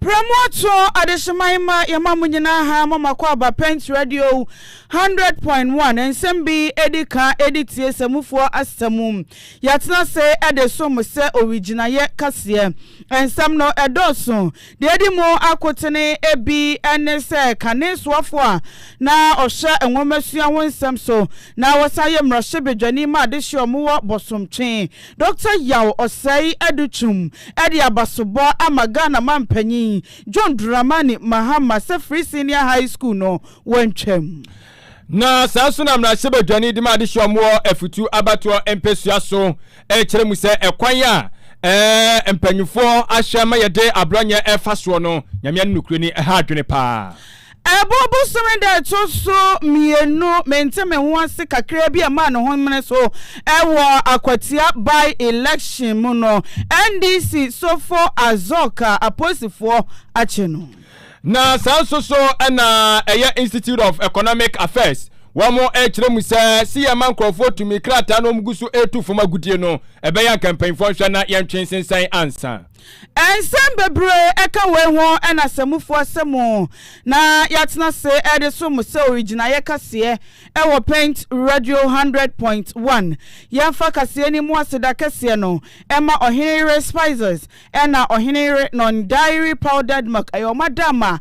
Prɛmoɔtoɔ adehyeman ma yɛma mo nyinaa ha mo mako aba Pent Radio 100.1 nsɛm bi ɛdi ka ɛdi tie sɛ mufoɔ asɛm mu yɛatena se ɛde som mo sɛ owigyinaeɛ kaseɛ nsɛm no ɛdɔɔso deɛ ɛdi mu akotene ɛbi ɛne sɛ kane soafoɔ a na ɔhwɛ nwomasua ho nsɛm so na wɔsan yɛ mmarahyɛbadwani ma adehye ɔmo wɔ Bɔsomtwe Doctor Yaw Osei Adutwum de abasobɔ ama Ghana Mampanyin John Dramani Mahama sɛ Free Senior High School no wɔntwam. Na saa nso na mmarahyɛbadwani de ma adehyeɛ a wɔwɔ afutuo abatoɔ mpɛsua so rekyerɛ mu sɛ ɛkwan a ɛɛ mpanimfoɔ ahwɛ ma yɛde aborɔnyɛ ɛfa soɔ no, Nyame ani nokorɛ ni, ɛha adwene paa. Ɛbɔ bosome da a ɛto so mmienu, mente me ho ase kakraa bi a ɛmaa ne ho mene so wɔ akwatia by election mu no, NDC sofo Azok a aposifoɔ akye no. Na saa nso so na ɛyɛ Institute of Economic Affairs, wɔn rekyerɛ mu sɛ si yɛn ma nkurɔfoɔ tumi krataa na wɔn gu so retu fam agodie no, ɛbɛyɛ anka mpanyinfoɔ nhwɛ na yɛntwe nsensɛn ansa. Nsɛm bebree ka wei ho na sɛ mufua sɛ mo na yɛatena ase de som mo sɛ owigyinaeɛ kaseɛ wɔ Paint Radio Hundred Point One, yɛmfa kaseɛ no mu aseda kɛseɛ no mma Ɔhene Yere Spices na Ɔhene Yere Non-Dairy Powdered Milk. Ɛyɛ wɔn adaama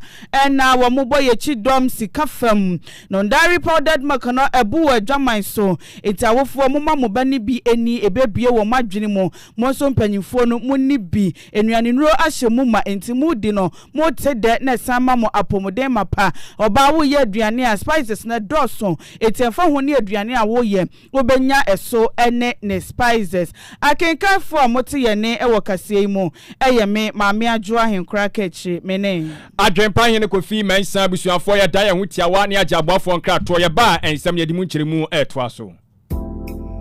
na wɔbɔ yɛn akyi dɔm sika fam. Non-Dairy Powdered Milk no abu wɔ adwaman so, enti awofoɔ, momma mo ba no bi nni, ɛbɛbue wɔn adwene mu. Mo nso mpanyimfoɔ no, monni bi. Nnuanennuro ahyɛ mu ma, enti modi no. Mote dɛ na ɛsan ma mo apɔmuden mapa. Ɔbaa, woyɛ aduane a, spices no dɔɔso, enti ɛmfa ho ne aduane a woyɛ, wobɛnya ɛso ne ne spices. Akenkanfoɔ a mote yɛn nne wɔ kaseɛ yi mu, ɛyɛ me, Maame Adwoa Ahenkora Kakyire. Me ne. Adwempa Hene Kofi Mensah abusuafoɔ yɛda yɛn ho tiawa ne agye aboafoɔ nkratoɔ. Yɛba a, nsɛm yɛde mu nkyerɛmu retoa so.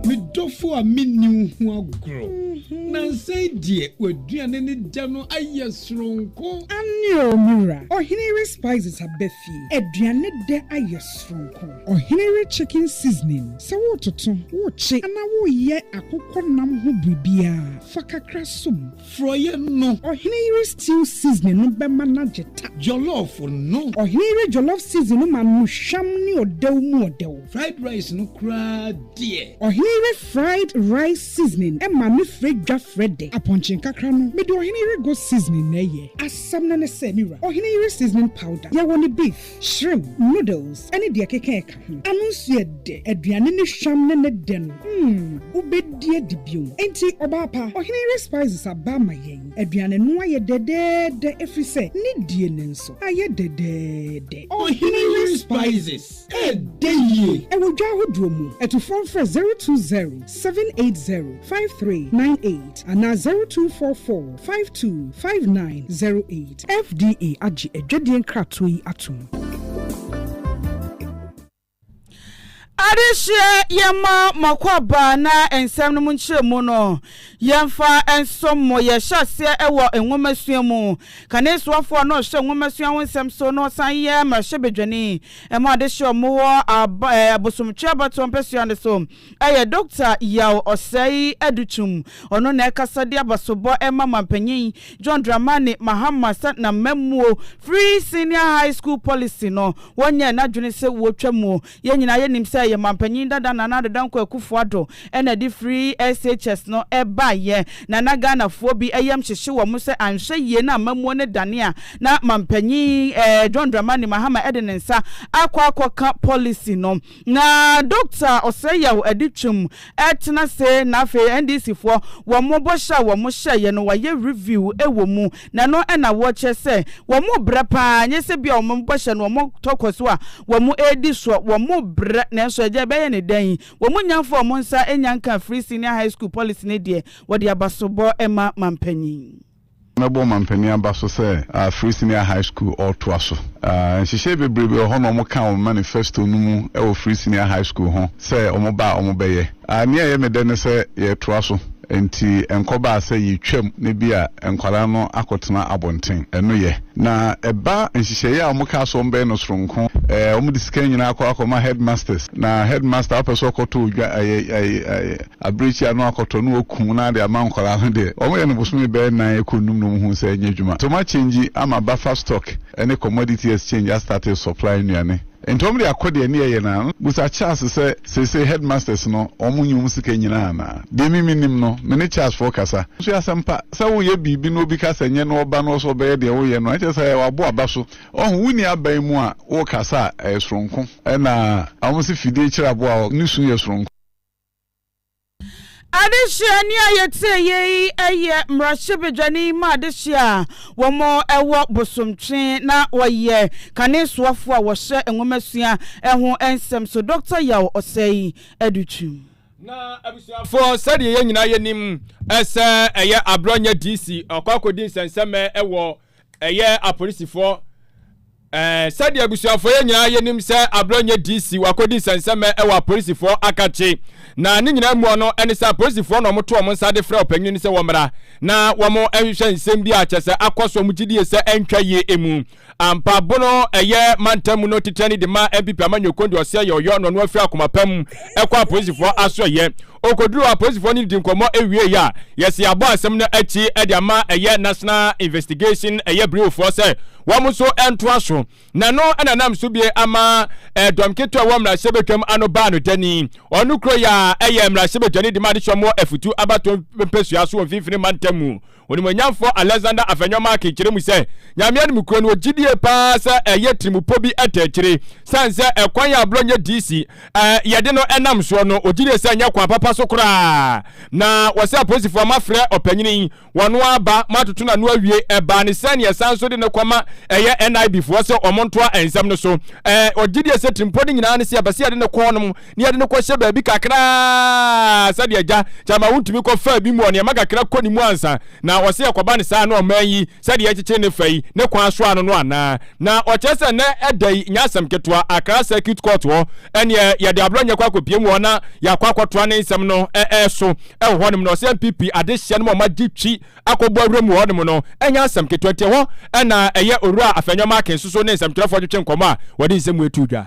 Me dɔfo a menni wo ho agorɔ. Nansa yi deɛ w'aduane ne dɛ no ayɛ soronko. Aane o, me wura. Ɔhene yere spices aba fie. Aduane dɛ ayɛ soronko. Ɔhene yere chicken seasoning, sɛ wototo, wokye anaa woyɛ akokɔ nam ho biribiara, fa kakra som. Frɔeɛ no. Ɔhene yere stew seasoning no bɛma no agye ta. Jollof no. Ɔhene yere jollof seasoning no ma no hwam ne ɔdɛw mu ɔdɛw. Fried rice no koraa deɛ. Ɔhene yere fried rice seasoning ma no frɛ dwa frɛ dɛ. Apɔnkye nkakra no, mede ɔhene yere goat seasoning na ɛyɛ. Asɛm no ne sɛ, me wura, ɔhene yere seasoning powder, yɛwɔ no beef. Shrimp, noodles ne deɛ ɛkeka ɛka ho. Ano nso yɛ dɛ. Aduane ne hwam ne ne dɛ no, mm, wobɛdi adi bio. Enti, ɔbaa pa, ɔhene yere spices aba ama yɛn. Aduane no ayɛ dɛdɛɛdɛ ɛfiri sɛ ne die no nso ayɛ dɛdɛɛdɛ. Ɔhene yere spices ɛdɛ yie. Ɛwɔ dwa ahodoɔ mu. Atufoɔ mfrɛ zero two zero seven eight zero five three nine eight anaa zero two four four five two five nine zero eight. FDA agye adwadie nkratoɔ yi atom. Adehyeɛ yɛmma mo akwaaba na nsɛm no mu nkyerɛmu no yɛmfa nsom mo. Yɛhyɛ aseɛ wɔ nwomasua mu. Kane soafoɔ na ɔhwɛ nwomasua ho nsɛm so na ɔsan yɛ mmarahyɛbadwani ma adehyeɛ wɔ mo hɔ abosomtwe abatoɔ mpɛsoa no so. Ɛyɛ Dɔkta Yaw Osei Adutum, ɔno na ɛkasa de abasobɔ ma Mampanyin John Dramani Mahama sɛ n'amammuo Free Senior High School Policy no, wɔnyɛɛ n'adwene sɛ wɔtwa mu. Yɛn nyinaa yɛnim sɛ ɛyɛ Mampanyin dada Nana Addo Dankwa Akufo Addo na ɛde Free SHS no baeɛ, na na Ghanafoɔ bi yam hyehye wɔn sɛ anhwɛ yie na amammuo no dane a na Mampanyin John Dramani Mahama de ne nsa akɔ akɔka policy no. Na Dokta Osei-Yaw adi twam ɛtena ase na afei NDC foɔ wɔn bɔhyɛ a wɔn hyɛeɛ no wayɛ review wɔ mu na ɛno na wɔkyerɛ sɛ wɔn rebrɛ paa nyɛ sɛ bia wɔn bɔhyɛ no wɔn tɔ kɔ so a wɔn redi soɔ wɔn rebrɛ nanso ɛgya bɛyɛ ne dɛn yi wɔn nya mfa wɔn nsa nya nka free senior high school policy no deɛ wɔde abasobɔ ma mampanyin Mɛbɔ ɔmanpanin aba so sɛ Free Senior High School ɔretoa so. Nhyehyɛe bebree bi wɔ hɔ na wɔka wɔ me manifesto no mu wɔ Free Senior High School ho sɛ wɔba a wɔbɛyɛ. Nea ɛyɛ me dɛ ne sɛ yɛretoa so, enti ɛnkɔbaa sɛ yetwam na ebia nkwadaa no akɔtena abɔnten. Ɛno yɛ. Na ɛba nhyehyɛe a wɔkaa sɛ wɔbɛyɛ no soronko, wɔde sika nyinaa kɔ akɔma headmasters, na headmaster a ɔpɛ sɛ ɔkɔto odwan, Abirekyia no akɔtɔ na wɔakum na de ama nkwadaa no deɛ, wɔyɛ no bosome bɛyɛ nnan rekɔ nnum na wɔhunu sɛ ɛnyɛ adwuma. Nti wɔakyɛngyi ama Buffer Stock ne Commodity Exchange astate resupply nnuane. Nti wɔde akɔ deɛ ɛnneɛ yɛ no ara. Bisa Charles sɛ, Seesei Headmasters no, wɔnyɛ wɔn sika nyinaa anaa? Deɛ me menim no, me ne Charles foɔ kasa. Nso ɛyɛ asɛmpa, sɛ woreyɛ biribi na obi ka sɛ nyɛ na ɔba na ɔsɛ ɔbɛyɛ deɛ woreyɛ no a, ɛnkyerɛ sɛ wabɔ aba so. Ɔho, wonni aban mu a, worekasa a, ɛyɛ soronko. Ɛna wɔse fidie kyere aboa a ɔne su yɛ soronko. Adesua ni a yɛtie yɛ yi yɛ mmarahyɛbadwani ma adesua a wɔwɔ Bosomtwe na wɔyɛ kane soafoɔ a wɔhyɛ nwomasua ho nsɛm so, Dɔkta Yaw Ɔsɛe Adutwum. Na abusuafoɔ sɛdeɛ yɛn nyinaa yɛnim sɛ ɛyɛ Abrɔnyɛ DC ɔkɔ akɔdi nsɛnsɛmɛ wɔ ɛyɛ apolisifoɔ Ɛɛ sɛdeɛ abusuafoɔ yɛ nyinaa yɛ nim sɛ Ablɔ nyɛ DC wakɔdi nsɛnsɛmɛ ɛwɔ apolisifoɔ akakye na ne nyinaa mua no ɛne sɛ apolisifoɔ na wɔn to wɔn nsa de frɛ ɔpanyini no sɛ wɔmmra na wɔn nhwehwɛ nsɛm bi a kyɛ sɛ akɔ so wɔn gyidie sɛ ɛntwa yie emu ampa bono ɛyɛ mantam mu no titire ne de ma MPP Amanyɔ Kondi ɔsɛ yɛ ɔyɔ na ɔno afiri akoma pa mu ɛkɔ apolisifoɔ aso ɛyɛ Okoduruu apolisifoɔ no dii nkɔmmɔ wiei a, yɛsii abɔ asɛm no akyi de ama ɛyɛ National Investigation ɛyɛ Bureau foɔ sɛ wɔn nso ntoa so. Na ɛno na nam so bue ama dɔm ketewa a ɛwɔ mmarahyɛbadwam ano baa no dɛ ni. Ɔno kuro yi a ɛyɛ mmarahyɛbadwani de ma adesoa mu afutuo abatoɔ mpesua so wɔ mfimfini mantam mu Onimuonyamfoɔ Alexander Afenyo-Markin kyerɛ mu sɛ, Nyame anim kuro no, ɔgye die paa sɛ ɛyɛ tirimupɔ bi ta akyire. Sane sɛ ɛkwan a blɔ nyɛ DC a yɛde no nam soɔ no, ɔgye die sɛ ɛnyɛ kwan papa so koraa. Na ɔsɛ apolisifoɔ mafrɛ ɔpanyini yi, ɔno ara ba, matoto n'ano awie. Ɛbaa ne sɛn, yɛsan nso de no kɔma ɛyɛ NIB foɔ sɛ wɔntoa nsɛm no so. Ɔgye die sɛ tirimupɔ no nyinaa ne sɛ yɛbɛsɛ yɛde no kɔ hɔnom. na yɛde no kɔhyɛ baabi kakra ara sɛdeɛ agya kyɛ ama wontumi kɔ faa bi mu wɔ nneɛma kakra kɔ ne mu ansa na ɔse ɛkɔba no saa na ɔman yi sɛdeɛ ɛkyekyere ne fa yi ne kwan so ano no anaa na ɔkyerɛ sɛ nnɛ ɛda yi nyɛ asɛm ketewa Accra Circuit Court hɔ ɛneɛ yɛde abrɔ nyɛ kɔ akɔpie mu hɔ na yɛakɔ akɔtoa ne nsɛm no ɛɛ so ɛwɔ hɔnom na ɔse NPP adehyeɛ no mu ɔma gye twi akɔbɔ awura mu hɔnom no ɛnyɛ asɛm ketewa nti ɛhɔ ɛna ɛyɛ owura Afenyo Markin soso ne nsɛmtwerɛfoɔ twetwe nkɔmmɔ a wɔde nsɛm mu ɛtu dwa.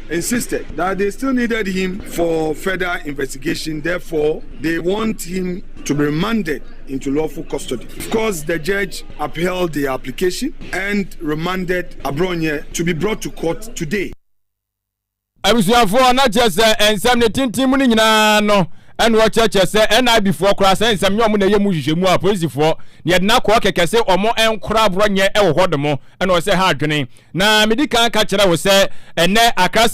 insisted that they still needed him for further investigation therefore they want him to be remanded into lawful custody. Of course, the judge upheld the application and remanded Abronye to be brought to court today. abusuafoɔ na kyerɛ sɛ nsɛm ne tenten mu no nyinaa no ɛna ɔkyerɛkyerɛ sɛ NIB foɔ koraa sɛ nsɛm nyɛ ɔmo na ɛyɛ mu nhwehwɛmu a polisifoɔ na yɛde no akɔ kɛkɛ sɛ ɔmo nkora aborɔnyɛ wɔ hɔ nom ɛna ɔsɛ ha adwene Na medi kan ka kyerɛ wo sɛ ɛnnɛ Accra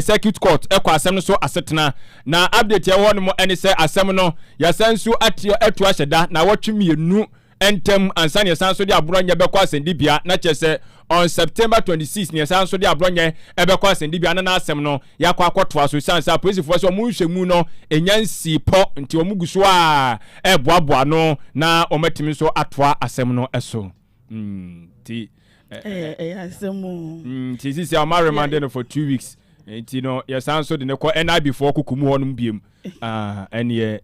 Circuit Court kɔ asɛm no so asetena. Na update a ɛwɔ hɔ nom ne sɛ asɛm no yɛasan nso atua atu ahyɛ da naawɔtwe mmienu ntam ansa na yɛsan nso de Aborɔnyɛ bɛkɔ asɛnnibea na kyerɛ sɛ on September 26 na yɛsan nso de Aborɔnyɛ bɛkɔ asɛnnibea na n'asɛm no yɛakɔ akɔtoa so esiane sɛ apolisifoɔ sɛ wɔn nhwɛmu no nya nsii pɔ nti wɔn gu so a ɛreboaboa ano na wɔatumi nso atoa asɛm no so. nti ɛyɛ asɛm o nti sisi a ɔma remande no for two weeks nti no yɛsan so de no kɔ nib foɔ koko mu hɔnom biam ɛneɛ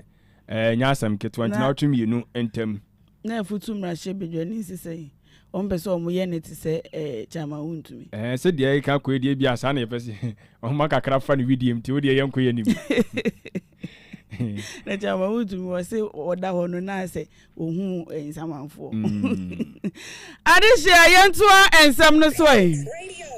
ɛnyɛ asɛm ketewa nti na wotwe mmienu ntam na afutu mmarahyɛ badwani nsi sɛ wɔn pɛ sɛ wɔn yɛ ne te sɛ ɛɛ kyama wo ntumi. ɛɛ sɛ deɛ ɛka kɔ edie bi asa na yɛpɛ sɛ wɔn kakra fa ne widie mu ti o deɛ yɛn kɔ yɛ nim. na kyɛ ama wotumi wɔ se wɔda hɔ no na sɛ wɔhu eh, nsamanfoɔ mm. adehyeɛ yɛntoa nsɛm no so ɛ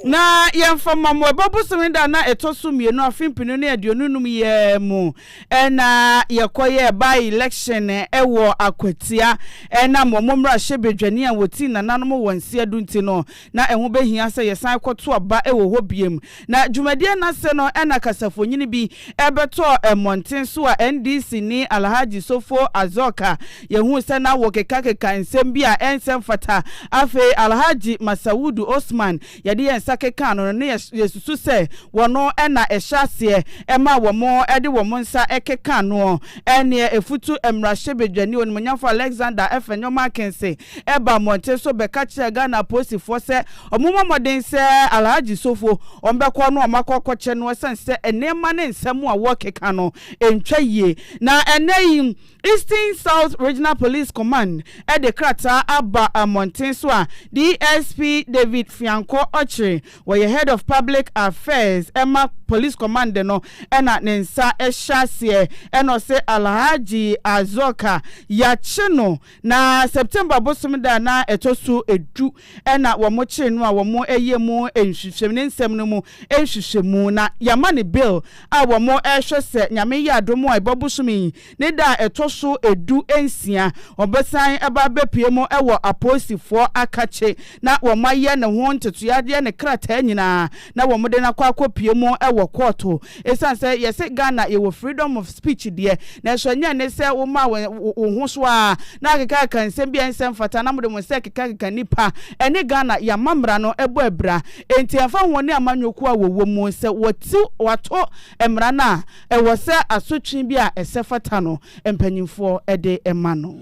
na yɛmfa ma mo ɛbɔ bosome da na ɛtɔ so mmienu afe mpinu ne aduonu num yɛ mu ɛna yɛkɔyɛ by election ɛwɔ akwatia ɛna mo mo mmarahyɛ badwani a wɔti nananom wɔ nseɛ do nti no na ɛho bɛhia sɛ yɛsan kɔto aba ɛwɔ hɔ biem Na dwumadie no ase no na kasafonyini bi bɛtɔɔ mmɔnten so a NDC ni Alhaji Sofo Azoka yɛhuu sɛ na wɔkekakeka nsɛm bi a ɛnsɛ mfata. Afei Alhaji Masaudu Osman yɛde yɛn nsa kekaa no no na yɛsusu sɛ wɔno na ɛhyɛ aseɛ maa wɔn de wɔn nsa kekaa noɔ. Ɛnneɛ Efutu mmarahyɛbedwani Onimuonyamfoɔ Alexander Afenyo Markinson ɛbaa mmɔnten so bɛka kyerɛɛ Ghana apolisifoɔ sɛ wɔmmɔ mmɔden sɛ Alhaji Sofo wɔbɛkɔ na wɔakɔ akɔkyɛ no ɛsiane sɛ nneɛma ne nsɛm a wɔrekeka no ntwa yie. Na ɛnnɛ yi Eastern South Regional Police Command de krataa aba mmɔnten so a DSP David Fiankɔ Okyere, ɔyɛ Head of Public Affairs ma Police Command no na ne nsa hyɛ aseɛ na ɔse Alhaji Azoka yɛakye no Na September bosome da a na ɛtɔ so du na wɔkyere no a wɔyɛ mu nhwehwɛmu, ne nsɛm no mu nhwehwɛmu. Na yɛama no Bill a wɔhwɛ sɛ Nyame yɛ adom a ɛba bosome yi ne da a ɛtɔ so du nsia, ɔbɛsan ba abɛpue mu wɔ apolisifoɔ akakye na wɔayɛ ne ho ntetoeɛ, ayɛ ne krataa nyinaa na wɔde no akɔ akɔpue mu wɔ kɔɔto Ɛsiane sɛ yɛse Ghana yɛwɔ freedom of speech deɛ, nanso ɛnyɛ ne sɛ wo maa wo wo ho so ara na akekakeka nsɛm bi a ɛnsɛ mfata na mode mo nsa rekekakeka nnipa. Ɛne Ghana yɛn amammara no bɔ abira. Enti ɛmfa ho wɔne amanyɔ ko a wɔwɔ mu, sɛ wɔte wɔato mmara no a, ɛwɔ sɛ asotwe bi a ɛsɛ fata no mpanyimfoɔ de ma no.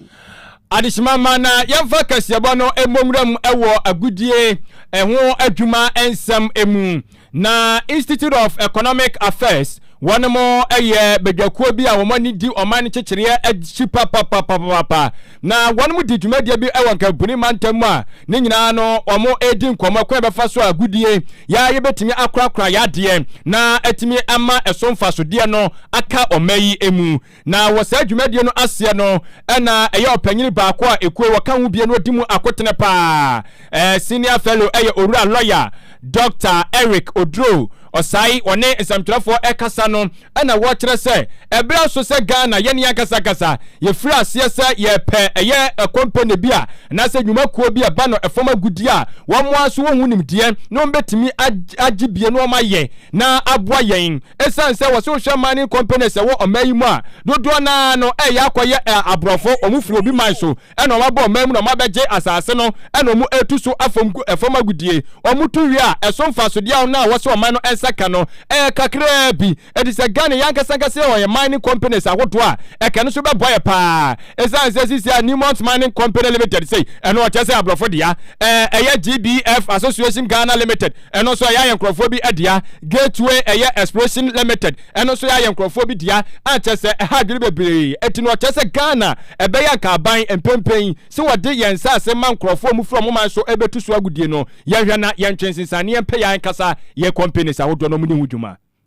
Adehyema ma na yɛmfa kasiɛbɔ no mmɔ nwura mu wɔ agodie ho adwuma nsɛm mu. Na Institute of Economic Affairs wɔnom yɛ badwakuo bi a wɔn ani di ɔman nkyekyereɛ akyi papapapapapa. Na wɔnom di dwumadie bi wɔ Nkampuni mantam mu a ne nyinaa no wɔn redi nkɔmmɔ kwan bɛfa so a agodie yɛ a yɛbɛtumi akorakora yɛ adeɛ na atumi ama ɛso mfasodeɛ no aka ɔman yi mu. Na wɔ saa dwumadie no aseɛ no na ɛyɛ ɔpanyini baako a ekuo wɔka ho bie no di mu akotene paa. Ɛɛ Senior Fellow yɛ Owura Lɔya Dɔkta Eric Oduro Osai ɔne nsɛmtwerɛfoɔ rekasa no na wɔkyerɛ sɛ ɛberɛ aso sɛ Ghana yɛne yɛankasa kasa yɛfiri aseɛ sɛ yɛrepɛ ɛyɛ kɔmpene bi a anaasɛ nnwuma kuo bi a ɛba no fam agudeɛ a wɔn ara nso wɔhu nimdeɛ na wɔbɛtumi agye bie na wɔayɛ na aboa yɛn Esiane sɛ wɔse wohwɛ mining companies a ɛwɔ ɔman yi mu a, dodoɔ no ara no ɛreyɛ akɔyɛ ɛ, aborɔfo, wɔn firi obi man so na wɔn aba ɔman mu na wɔn abɛgye asase no na wɔn retu so afam gu ɛfam agodie. Wɔn tu wie a, ɛso mfasodeɛ a wɔn a wɔse ɔman no nsa ka no ɛyɛ kakraa bi. Enti sɛ Ghana yi ankasa ankasa yɛ wɔn yɛn mining companies ahodoɔ a, ɛka no so bɛboa yɛ pa ara. Esiane sɛ seesei a Newmont Mining Company Limited sei, ɛno ɔkyerɛ sɛ aborɔfo dea, ɛ, ɛyɛ GBF Association Ghana Limited, ɛno nso ɛyɛ ayɛ nkurɔfoɔ bi adea Gateway ɛyɛ Exploration Limited ɛno nso ɛyɛ ayɛ nkurɔfoɔ bi dea a kyɛ sɛ ɛha adwene bebree ɛti no ɔkyɛ sɛ Ghana ɛbɛyɛ anka aban mpɛmpɛn sɛ wɔde yɛn nsaase ma nkurɔfoɔ a mufiri ɔmo man so ɛbɛtu so agodie no yɛnhwɛ na yɛntwe nsensaneɛ mpɛ yɛn ankasa yɛn companies ahodoɔ no ɔmo ne ho dwuma.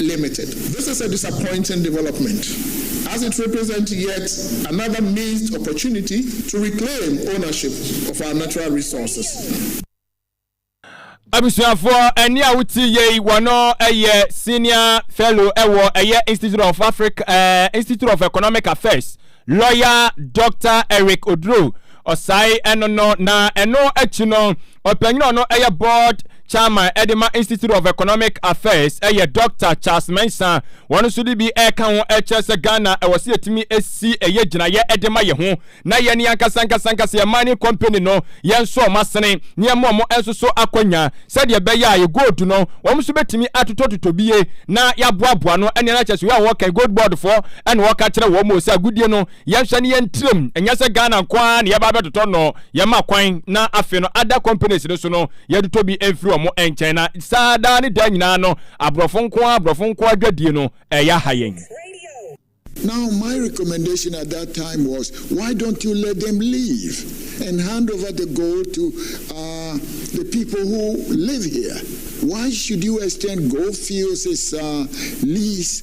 Limited. This is a disappointing development as it represent yet another missed opportunity to reclaim ownership of our natural resources. Abusuafoɔ, ɛne a wotie yei wɔno ɛyɛ senior fellow ɛwɔ ɛyɛ Institute of Africa uh, Institute of Economic Affairs lawyer Dr. Eric Oduro Ɔsae ɛno no na ɛno akyi no Ɔpanyin a ɔno yɛ board chairman de ma Institute of Economic Affairs yɛ Dɔkta Charles Mensah. Wɔn nso de bi reka ho kyerɛ sɛ Ghana ɛwɔ sɛ yɛtumi si ɛyɛ gyinaeɛ de ma yɛn ho na yɛn ne ankasa ankasa ankasa yɛn mining company no yɛn nso wɔn asene na yɛn ma wɔn nso so akwanya sɛdeɛ ɛbɛyɛ a yɛ gold no wɔn nso bɛtumi atotɔtotɔ bie na yɛaboaboa no ɛne ɛna kyerɛ sɛ wei a wɔka gold board foɔ ɛna wɔka kyerɛ wɔn sɛ agodie no yɛnhwɛ no yɛn tirim, ɛnyɛ sɛ Ghana nko ara na yɛba abɛtotɔ nnɔɔ, yɛma kwan na afei no other companies no so no yɛtotɔ bi mfiri wɔn nkyɛn na saa daa ne daa nyinaa no aborɔfo nko ara aborɔfo nko ara dwadie no ɛyɛ aha yɛn. Now my recommendation at that time was why don't you let them leave and hand over the gold to uh, the people who live here? Why should you extend gold fields as uh, lease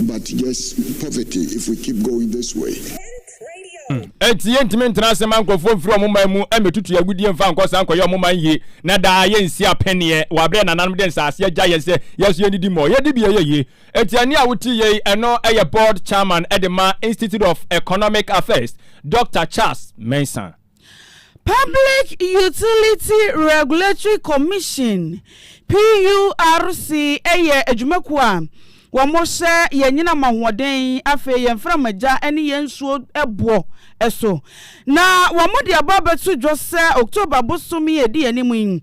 But just poverty if we keep going this way. Enti yɛntumi ntena ase ma nkurɔfoɔ mfiri wɔn man mu mmɛtutu agudeɛ mfa nkɔ saa nkɔyɛ wɔn man yie, na daa yɛnsi apɛneɛ wɔ aberɛ a nananom de nsase agya yɛn sɛ yɛn nso yɛnnidi mmɔ. Yɛn dibea yɛ yie. Otiani a wote yei, ɛno yɛ Board Chairman de ma Institute of Economic Affairs, Doctor Charles Mensah. Public Utility Regulatory Commission, PURC, yɛ adwumakuo a wɔhyɛ yɛn anyinam ahoɔden, afei yɛn mframagya ne yɛn nsuo boɔ so, na wɔde aba abɛto dwa sɛ October bosome a ɛdi yɛn anim yi,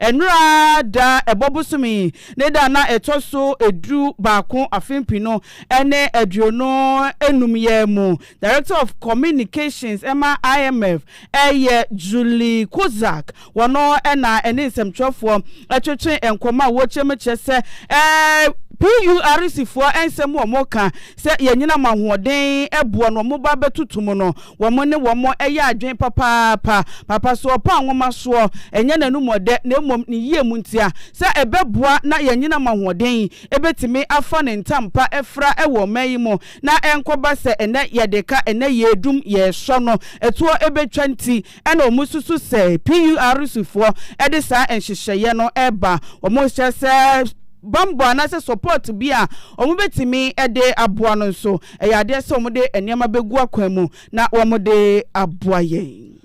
Nnora da a ɛbɔ bosome yi ne da a na ɛtɔ so du baako afe mpenu ne aduonu nnum yi ara mu Director of Communications ma IMF yɛ Julie Kozak. Wɔno na ɛne nsɛmtwerɛfoɔ twetwe nkɔmmɔ a wɔkyerɛ mu kyerɛ sɛ PURC foɔ nsɛm a wɔka sɛ yɛnyina mo ahoɔden boɔ no wɔba bɛtoto mu no wɔn ne wɔn yɛ adwene papaapa. Papa so ɔpɛ a nwoma soɔ, ɛnyɛ n'anum ɔdɛ na mmom ne yie mu ntia. Sɛ ɛbɛboa na yɛanyinam ahoɔden ɛbɛtumi afa ne ntam pa afira wɔ ɔman yi mu na ɛnkɔba sɛ ɛnnɛ yɛde ka ɛnnɛ yɛredum yɛresɔ no ɛtoɔ ɛbɛtwa nti na wɔsusu sɛ PURC foɔ de saa nhyehyɛeɛ no reba. Wɔhyɛ sɛ bammɔ anaasɛ support bi a wɔbɛtumi de aboa no nso. ɛyɛ adeɛ sɛ wɔde nneɛma bɛgu akwan mu na wɔde aboa yɛn.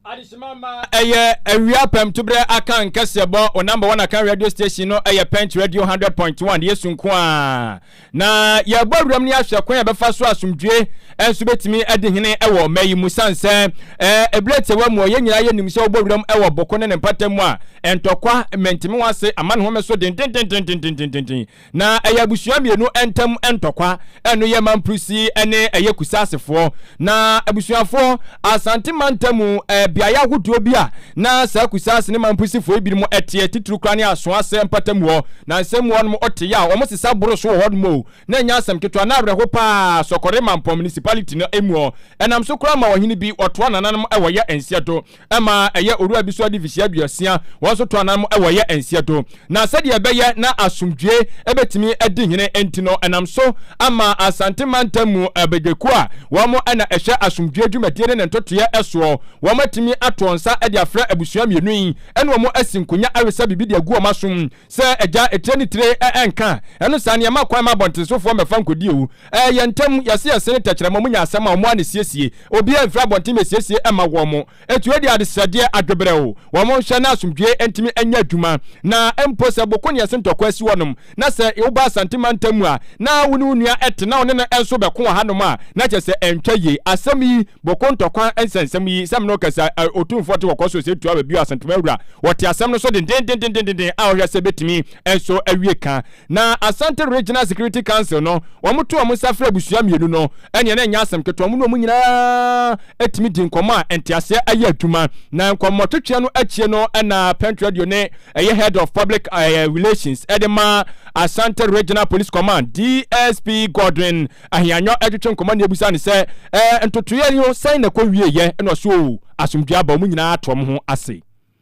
Adesima ma ɛyɛ awia pɛm tuberɛ aka nkɛseɛ bɔ o number one aka radio station no ɛyɛ pɛnt radio hundred point one yesu nko a na yɛbɔ awuram ne ahwɛ kwan yɛbɛfa so asomdwie ɛnso bɛtumi adi hene ɛwɔ ɔma yi mu san sɛ ɛberɛ tiɛwa mu ɔyɛ nyinaa yɛ nim sɛ wobɔ awuram ɛwɔ boko ne ne mpata mu a ɛntɔkwa mɛntimi wɔ ase ama ne home so dendendendendendenden Na ɛyɛ abusua mmienu ntam ntɔkwa, ɛno yɛ Mamprisi ne ɛyɛ Kusasefoɔ. Na abusuafoɔ, Asante mantam mu beaeɛ ahodoɔ bi a na saa Kusase ne Mamprisifoɔ yi binom teɛ, titiri koraa ne Asoase mpata mu hɔ, na nsɛm mu hɔ nom te yɛ a wɔn sesa boro so wɔ hɔ nom o, na ɛnyɛ asɛm ketewa, na awerɛho pa ara, Sɔkɔre Mampɔn Municipality no mu hɔ, ɛnam so koraa ma ɔhene bi, ɔtoa nananom wɔ yɛ nseɛ do. ɛma ɛyɛ owura bi so ade mfirihyia aduosia, wɔn nso to anan mu wɔ yɛ nseɛ do. Na sɛdeɛ ɛbɛyɛ na asomdwoe bɛtumi adi hene nti no, ɛnam so ama Asante mantam mu abadwakuo a wɔn na ɛhwɛ asomdwoe dwumadie ne ne ntotoeɛ soɔ, wɔn atumi atoɔ nsa de afrɛ abusua mmienu yi ne wɔn asi nkonya awesa biribi de agu wɔn asom sɛ agya etire ne tire nka ɛno saa no yɛma kwan ma abɔntensofoɔ mmɛfa nkɔdi o. Ɛyɛ ntɛm, yɛse yɛsene tɛkyerɛma mu nya asɛm a wɔn ani siesie, obiara mfiri abɔnten mmɛsiesie mma wɔn, ɛtue de adesrɛdeɛ, adweberɛw, wɔn nhwɛ na asomdwoeɛ ntumi nyɛ adwuma, na mpo sɛ boko ne ɛse ntɔkwa asi hɔnom, na sɛ woba Asante mantam mu a na wo ne wo nua te na wo ne no nso bɛko wɔ hanom a, na kyerɛ sɛ ɛntwa yie. Asɛm yi, boko ntɔkwa nsɛnsɛm yi, sɛ me ne wo kasa a, Otumfoɔ te Kɔkɔɔ Soro Sɛtuawa bio, Asantewaa Wura, ɔte asɛm no so dendendendendendendenn a ɔhwɛ sɛ ɛbɛtumi nso awie ka. Na Asante Regional Security Council no, wɔto wɔn nsa frɛ abusua mmienu no, ɛnneɛ na ɛnyɛ asɛm ketewa, wɔn ne wɔn nyinaa tumi di nkɔmmɔ a nteaseɛ yɛ adwuma. Na nkɔmmɔtwetweɛ no akyire no na Pent Radio ne ɛyɛ Head of Public Relations de ma Asante Regional Police Command, DSP Godwin Ahianyɔ twetwe nkɔmmɔ na ɛbisa no sɛ, ntotoeɛ no sɛn na ɛkɔ wieeɛ? Ɛna ɔse, oo, asomdwoeɛ aba, wɔn nyinaa ato wɔn ho ase.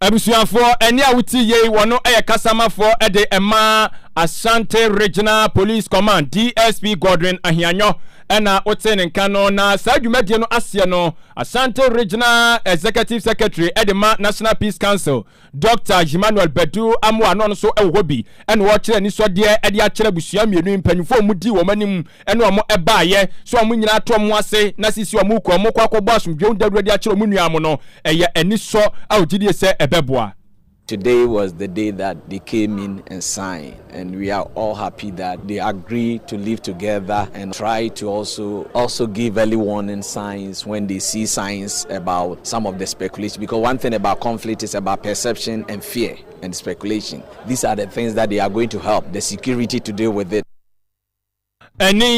Abusuafoɔ ɛnne a wotie yei wɔ no yɛ kasamafoɔ de ma Ashanti Regional Police Command, DSP Godwin Ahianyɔ na wotee ne nka no. Na saa dwumadie no aseɛ no, Ashanti Regional Executive Secretary de ma National Peace Council, Dɔkta Emmanuel Badu Amoah na ɔno nso wɔ hɔ bi na ɔrekyerɛ anisɔdeɛ de akyerɛ abusua mmienu yi mpaninfoɔ a wɔdi wɔn anim ɛne wɔn baeɛ, sɛ wɔn nyinaa to wɔn ase na sisi wɔn rekɔ, wɔn rekɔ akɔbɔ asomdwoeɛ dawuro de akyerɛ wɔn nuanom no, ɛyɛ anisɔ a wɔgye die sɛ ɛbɛboa. Today was the day that they came in and signed and we are all happy that they agree to live together and try to also also give early warning signs when they see signs about some of the speculation because one thing about conflict is about perception and fear and speculation these are the things that they are going to help the security to deal with it. Ɛne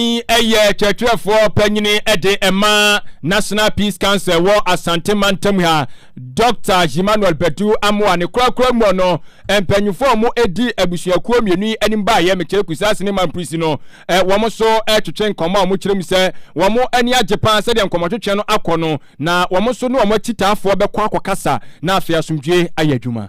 yɛ kyerɛkyerɛfoɔ panyin de ma National Peace Council wɔ Asante mantam ha, Dɔkta Himmanuel Badu Amoah ne korakora mu no mpanyinfoɔ a wɔn di abusuakuo mmienu yi anim baeɛ, Mekyere Kusase ne Mamprisi no, wɔn nso retwetwe nkɔmmɔ a wɔn kyerɛ mu sɛ wɔn ani agye paa sɛdeɛ nkɔmmɔtwetwe no akɔ no, na wɔn nso ne wɔn akyitaafoɔ bɛkɔ akɔkasa na afei asomdwoeɛ ayɛ adwuma.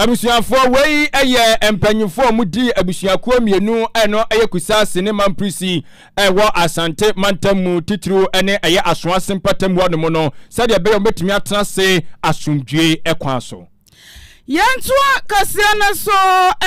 Abusuafoɔ, wei yɛ mpanyinfoɔ a wɔn di abusuakuo mmienu a ɛno yɛ Kusaase ne Mamprisi a ɛwɔ Asante mantam mu titiriw ne ɛyɛ Asoase mpɔtam hɔ nom no sɛdeɛ ɛbɛyɛ a wɔbɛtumi atena ase asomdwoe kwan so. Yɛntoa kaseɛ no so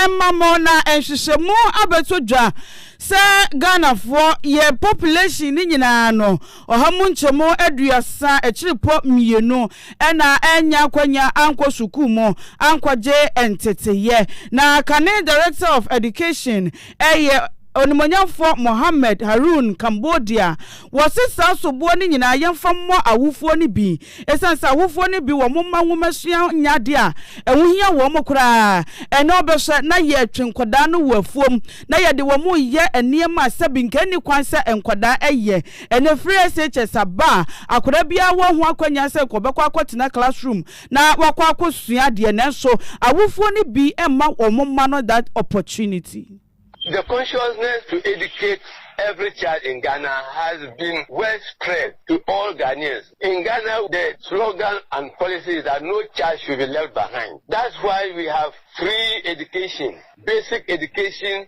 mma mo na nhwehwɛmu abɛtɔ dwa sɛ Ghanafoɔ, yɛn population no nyinaa no, ɔha mu nkyɛmu aduasa akyirepɔ mmienu na annya akwanya ankɔ sukuu mu ankɔgye nteteeɛ. Na kane Director of Education yɛ Onimuonyamfoɔ Mohammed Haroun Cambodia. Wɔse saa soboɔ no nyinaa yɛmfa mmɔ awofoɔ no bi ɛsiane sɛ awofoɔ no bi wɔn mma nwomasua nyɛ adeɛ a ɛho hia wɔn koraa. Ɛnnɛ wobɛhwɛ na yɛtwe nkwadaa no wɔ afuom na yɛde wɔn reyɛ nneɛma a sɛbi nka ɛnni kwan sɛ nkwadaa yɛ. Ɛnnɛ free SHS aba a akwadaa biara wɔ ho akwanya sɛ nka ɔbɛkɔ akɔtena classroom na wakɔ akɔsua adeɛ nanso awofoɔ no bi mma wɔn mma no that opportunity. The consciousness to educate every child in Ghana has been well spread to all Ghanaians. In Ghana the slogan and policy is that no child should be left behind. That's why we have free education, basic education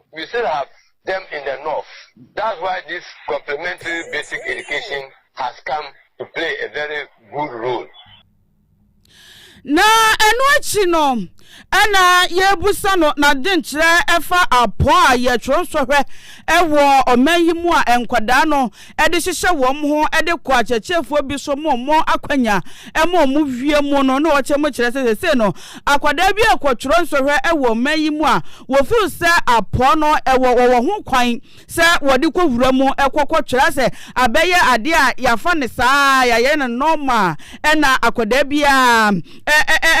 We still have them in the north that's why this complementary basic education has come to play a very good role. Na ɛno akyi no ɛna yɛbusa no n'adenkyerɛ ɛfa apɔn a yɛtwerɛ nsɔhwɛ ɛwɔ ɔman yi mu a nkwadaa no de hyehyɛ wɔn ho de kɔ akyerɛkyerɛfoɔ bi so ma wɔn akwanya ma wɔn wie mu no na wɔkyɛ mu kyerɛ sɛ sɛsei no akwadaa bi rekɔtwerɛ nsɔhwɛ wɔ ɔman yi mu a wɔfiri sɛ apɔ no ɛwɔ wɔwɔ ho kwan sɛ wɔde kɔwura mu kɔkɔtwerɛ sɛ abɛyɛ adeɛ a yɛafa ne saa yɛayɛ no nɔɔma ɛna akwadaa biara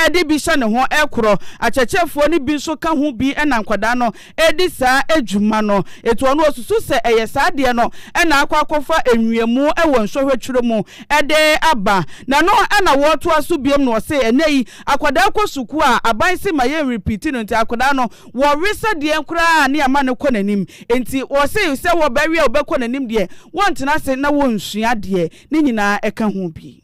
ɛde bi hyɛ ne ho ɛkorɔ akyerɛkyerɛfoɔ no bi nso ka ho bi ɛna nkwadaa no redi saa dwuma no. Enti ɔno ɔsusu sɛ ɛyɛ saa adeɛ no na akɔ akɔfa nwiamu wɔ nsɔhwɛ twerɛ mu de aba. Na ɛno na wɔretoa so biom na ɔse ɛnnɛ yi akwadaa kɔ sukuu a aban se ma yɛn repeati no nti akwadaa no wɔwe sɛdeɛ koraa ne ama no kɔ n'anim. Enti ɔse sɛ wɔbɛwe a wɔbɛkɔ n'anim deɛ wɔntena ase na wɔnsua deɛ ne nyinaa ɛka ho bi.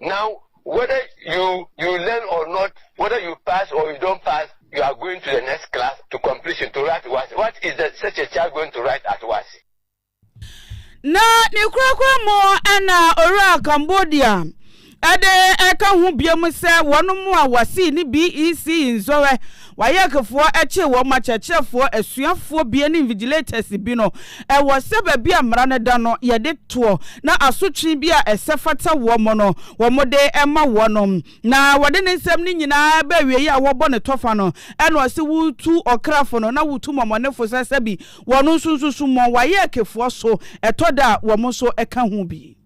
Now whether you you learn or not whether you pass or you don't pass you are going to the next class to completion to write was what is the such a child going to write at was. Na ne korakora mu na owuraa Cambodia. Ɛde ɛka ho biom sɛ wɔnom a wɔsee ne BECE nsɔrɛ Wayɛkefoɔ kyee wɔn ma kyerɛkyerɛfoɔ asuafoɔ bia ne invigilators bi no. Ɛwɔ sɛ baabi a mmara no da no yɛde toɔ na asotwee bi a ɛsɛ fata wɔn no wɔde ma wɔnom. Na wɔde ne nsɛm no nyinaa ba awieɛ a wɔbɔ no tɔfa no ɛna ɔse wotu ɔkrafo no na wotu mɔmɔnefo sɛ sɛbi wɔn nso nso summɔn wayɛkefoɔ so ɛtɔ da a wɔn nso ka ho bi.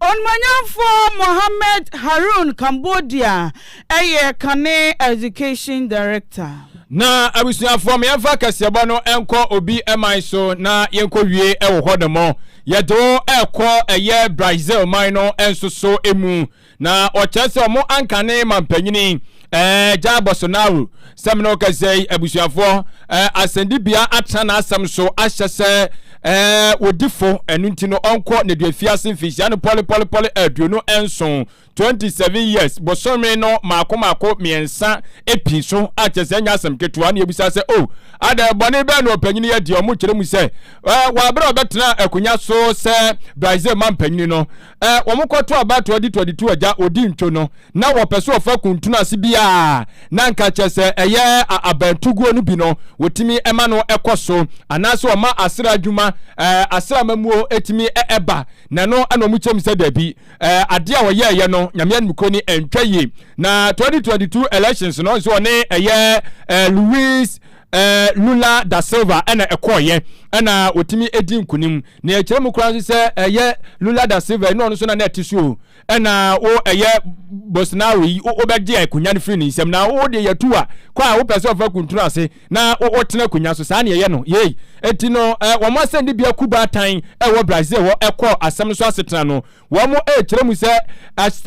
Onumanyamfoɔ Mohamed Haroun Cambodia yɛ kane Education Director. Na abusuafoɔ mo yɛmfa kɛseɛbɔ no nkɔ obi man so na yɛnkɔ wie wɔ hɔ nom yɛde wo ɛkɔ ɛyɛ Brazil man no nso so mu Na ɔkyerɛ sɛ ɔmo ankane mampanyini ɛɛ Jair Bolsonaro sɛ mene ɔkɛsɛ yi abusuafoɔ ɛɛ asɛndibea atena n'asɛm so ahyɛ sɛ ɛɛ wodifo ɛno nti no ɔnkɔ n'aduafiase mfinhyia no pɔle pɔle pɔle aduonu nson 27 years bosome no maako maako mmiɛnsa epi so akyɛ sɛ nyɛ asɛm ketewa ne ebusa sɛ o oh, ada bɔne bɛɛ na ɔpanyini yɛ deɛ ɔmo kyerɛ mu sɛ ɛɛ wabrɛ ɔbɛtena akonnwa so sɛ Brazil mampanyini no Ɛ, wɔn kɔ to aba tɔdi tɔdi to agya odi ntwo no na wɔpɛ so wɔfa kuntunu ase bi a na nka kyɛ sɛ ɛyɛ a abantuguo no bi no wɔtumi ɛma no ɛkɔ so anaasɛ wɔma asra adwuma ɛ asra mamuo ɛtumi ɛ ɛba na ɛno ɛna wɔn kyɛm sɛ dabi ɛ adeɛ a wɔyɛ ɛyɛ no nyame animukuo ni ɛntwa yie na tɔdi tɔdi to elections no nso wɔne ɛyɛ ɛ Louis eh, Lula da Silva na ɛkɔɔeɛ na wɔtumi di nkunim na ɛkyerɛ mu koraa nso sɛ ɛyɛ Lula da Silva ɛna ɔno nso na na ɛte so ɛna wo ɛyɛ Bolsonaro yi wobɛgye akonnwa no firi ne nsam na wo deɛ yɛtu a kɔ a wopɛ sɛ ɔfa kuntunu ase na wotena akonnwa so saa ne ɛyɛ no yei ɛti no eh, wɔn asɛnde bia ku baatan ɛwɔ Brazil hɔ ɛkɔ asɛm no so asetena no wɔn ɛkyerɛ mu sɛ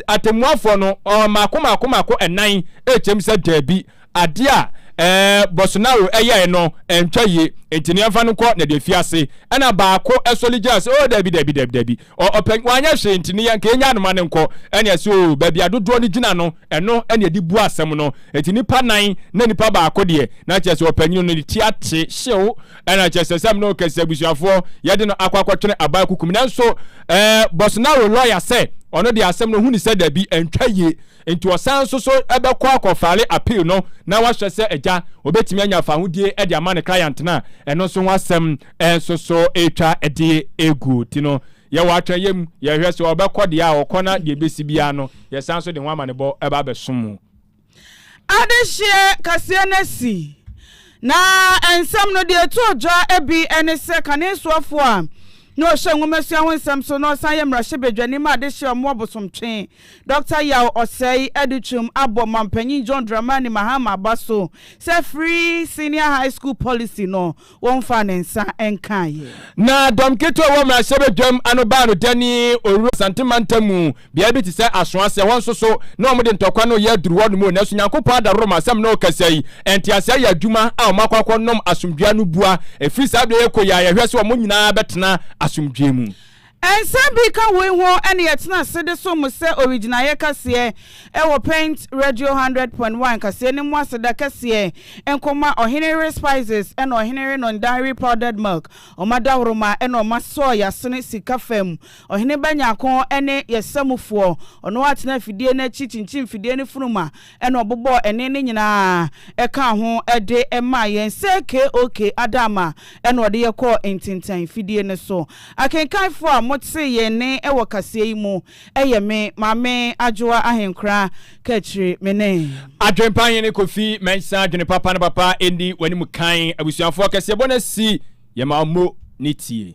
atemmuafoɔ no maako maako maako ɛnan ɛkyerɛ mu sɛ daabi Adeɛ a ɛɛ Bolsonaro yɛe no ɛntwa yie nti no yɛmfa no nkɔ na deɛ fie ase ɛna baako sɔli gyina sɛ oo dabi dabi dabi dabi ɔ ɔpɛ wanyɛ hwee nti no yɛnka yɛnya noma no nkɔ ɛne ɛse oo baabi a dodoɔ no gyina no ɛno ɛne yɛde bu asɛm no nti nipa nan na nipa baako deɛ na kyerɛ sɛ ɔpanyini no ne ti ate hyew ɛna kyerɛ sɛ sɛm no kɛse abusuafoɔ yɛde no akɔ akɔtwene aban kukum nanso ɛɛ Bolsonaro lɔya sɛ ɔno deɛ asɛm no hu ne sɛ dabi ɛntwa yie Enti ɔsan nso so bɛkɔ akɔfale appeal no na wahwɛ sɛ agya obetumi anya fahodie de ama ne client no a, ɛno nso ho asɛm nso so retwa de egu ti no. Yɛwɔ atwɛnyɛ mu, yɛhwɛ sɛ ɔbɛkɔ deɛ a ɔkɔ na deɛ ebesi biara no yɛsan nso de ho amanebɔ ba abɛso mu. Adehyeɛ kaseɛ no asi, na nsɛm no deɛ ɛtoo dwa bi ne sɛ kane soafoɔ a na ɔhwɛ nwomasua ho nsɛm so na ɔsan yɛ mmarahyɛbadwani ma adehyeɛ a ɔmo wɔ bosomtwe Dɔkta Yaw Osei Adutwum abɔ Mampanyin John Dramani Mahama aba so sɛ Free Senior High School Policy no wɔmfaa ne nsa nkaeɛ. Na dɔm ketewa a ɛwɔ mmarahyɛbadwam ano baa no dani owura Asante mantam mu beae bi te sɛ Asoase, ɛhɔ nso so na wɔde ntɔkwa no reyɛ aduru hɔnom o, nanso Nyankopɔn adaworoma asɛm na ɔrekasa yi, ntease ayɛ adwuma a wɔakɔ akɔnom asomdwoeɛ ano bua, ɛfiri saa berɛ yi kɔ yi a yɛhwɛ sɛ wɔn nyinaa bɛtena asomdwoeɛ mu. Nsɛm bi ka woi ho ɛne yɛtena ase de som mo sɛ owigyinaeɛ kaseɛ ɛwɔ Paint Radio hundred point one kaseɛ no mu aseda kɛseɛ nkɔma Ɔhene Yere Spices ɛna Ɔhene Yere Nong Dairy Powdered Milk ɔmo adawroma ɛna ɔmo asɔɔ yɛasene sika fam Ɔhene Ba Nyarko ɛne yɛsamufoɔ ɔno atena afidie no akyi kyinkyin fidie no funuma Ɛna ɔbobɔɔ ɛnne no nyinaa ɛkaa ho de maa yɛn sɛ KOK Adaama ɛna ɔde yɛ kɔɔ ntintan fidie no so. Akenkanfoɔ a mo tee yɛn nne wɔ kaseɛ yi mu ɛyɛ me, Maame Adwoa Ahenkora Kakyire me ne. Adwempa Hene Kofi Mensah Dwene papa na papa ɛnni w'anim kan Abusuafoɔ kaseɛbɔ no asi yɛn ma mo ne tie.